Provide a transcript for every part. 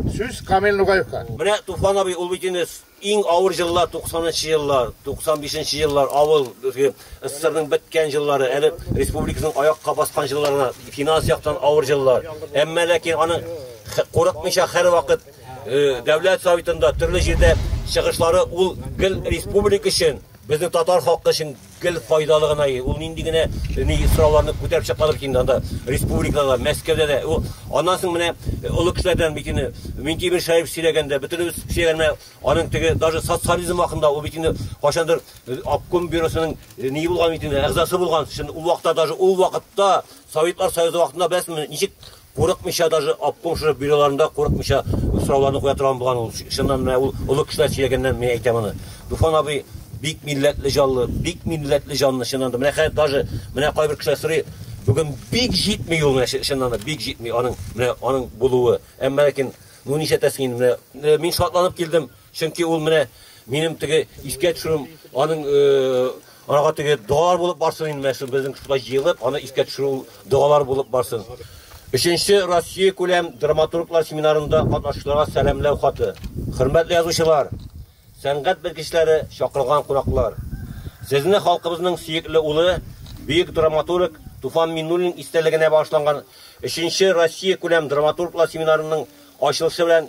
Сүз Камил Нугаевка. Менә Туфан абый ул бит инде иң авыр җыллар, 90 нчы еллар, 95 нче еллар, авыл, безге СССРның беткән җыллары, әле республикасының аякка баскан җылларына, финанс яктан авыр җыллар. Әмма ләкин аның курыкмыйча һәрвакыт дәүләт советында, төрле җирдә чыгышлары ул гел республика өчен, безнең татар халкы өчен Гел файдалы гына и, ул нинди генә ни сорауларны күтәреп чыкмады бит инде анда, республикада да, Мәскәүдә дә. Ул аннан соң менә э, олы кешеләрдән бит инде Минтимер Шаев сөйләгәндә, бөтенебез сөйләгәндә, аның теге даже социализм вакытында ул бит инде кайчандыр э, обком бюросының э, ни булган бит инде, әгъзасы булган. Шунд ул вакытта даже ул вакытта Советлар Союзы вакытында беләсезме, ничек Курыкмыйча даже обком шушы бюроларында курыкмыйча сорауларны куя торган булган ул чыннан менә ул олы кешеләр сөйләгәннән мин әйтәм аны Дуфан абый бик милләтле җанлы бик милләтле җанлы чыннан да менә хәзер даже менә кайбер кешеләр сорый бүген бик җитми ул менә чыннан да бик җитми аның менә аның булуы әмма ләкин ну нишләтәсең инде менә мин шатланып килдем Чөнки ул менә минем теге искә төшерүем, аның ага теге догалар булып барсын инде, менә шул безнең шулай җыелып, аны искә төшерү догалар булып барсын. Өченче Россия күләм драматурглар семинарында катнашучыларга сәламләү хаты. Хөрмәтле язучылар, сәнгать белгечләре, чакырылган кунаклар! Сезне халкыбызның сөекле улы, бөек драматург Туфан Миннуллин истәлегенә багышланган өченче Россия күләм драматурглар семинарының ачылышы белән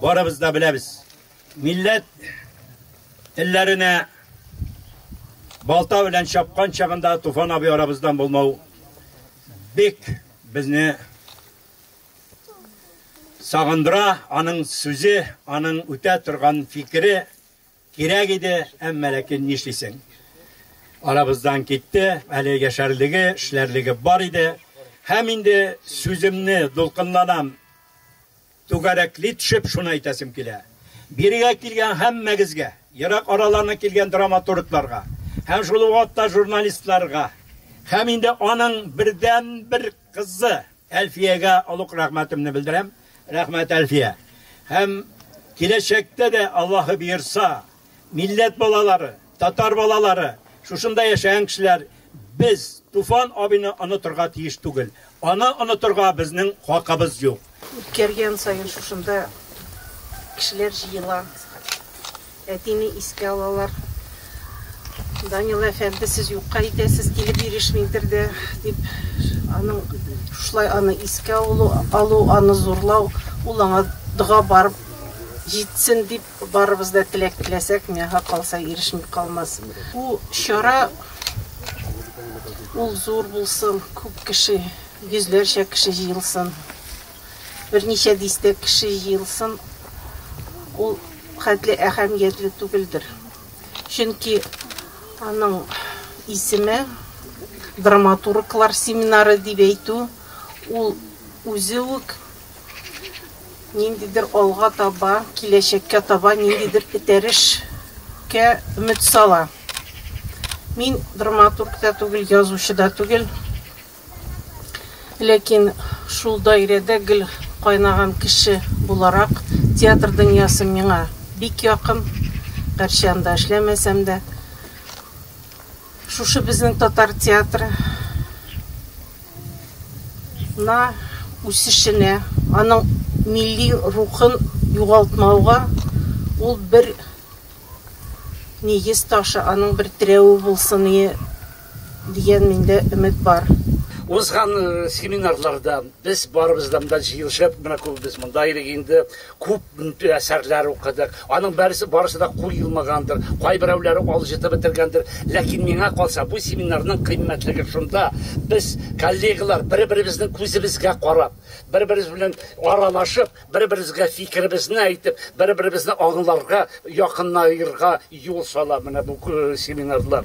Барыбыз да беләбез. Милләт телләренә балта белән чапкан чагында Туфан абый арабыздан булмау бик безне сагындыра, аның сүзе, аның үтә торган фикере кирәк иде, әмма ләкин нишлисең? Арабыздан китте, әле яшәрлеге, эшләрлеге бар иде. Һәм инде сүземне дулкынланам, Түгәрәкли төшеп шуны әйтәсем килә, бирегә килгән һәммәгезгә, ерак араларны килгән драматургларга һәм шул ук вакытта журналистларга һәм инде аның бердәнбер кызы Әлфиягә олуг рәхмәтемне белдерәм. Рәхмәт, Әлфия. Һәм киләчәктә дә, Аллаһы боерса, милләт балалары, татар балалары, шушында яшәгән кешеләр без Туфан абыйны онытырга тиеш түгел. Аны онытырга безнең хакыбыз юк. Үткәргән саен шушында кешеләр җыела. Әтине искә алалар. Данила әфәнде, сез юкка итәсез, килеп ирешмидер дә, дип, аның шулай аны искә алу, алу, аны зурлау, ул аңа дога барып җитсен дип Барыбыз да теләк теләсәк, миңа калса ирешми калмас. Бу чара ул зур булсын, күп кеше, йөзләрчә кеше җыелсын. Берничә дистә кеше җыелсын. Ул хәтле әһәмиятле түгелдер. Чөнки аның исеме драматурглар семинары дип әйтү, ул үзе үк ниндидер алга таба, киләчәккә таба ниндидер этәрешкә өмет сала. Мин драматург та түгел, язучы да түгел. Ләкин шул даирәдә гел кайнаган кеше буларак театр дөньясы миңа бик якын, гәрчә анда эшләмәсәм дә. Шушы безнең татар театры на үсешенә, аның милли рухын югалтмауга ул бер нигез ташы, аның бер терәве булсын ие дигән миндә өмет бар. Узган семинарларда без барыбыздан да җыелышып, менә күбебез монда идек инде, Күп әсәрләр укыдык. Аның берсе барысы да кул юмагандыр, кайберәүләре алҗытып бетергәндер. Ләкин миңа калса, бу семинарның кыйммәтлеге шунда, без, коллегалар, бер-беребезнең күзебезгә карап, бер-беребез белән аралашып, бер-беребезгә фикеребезне әйтеп, бер-беребезне аңларга, якынаерга юл сала менә бу семинарлар.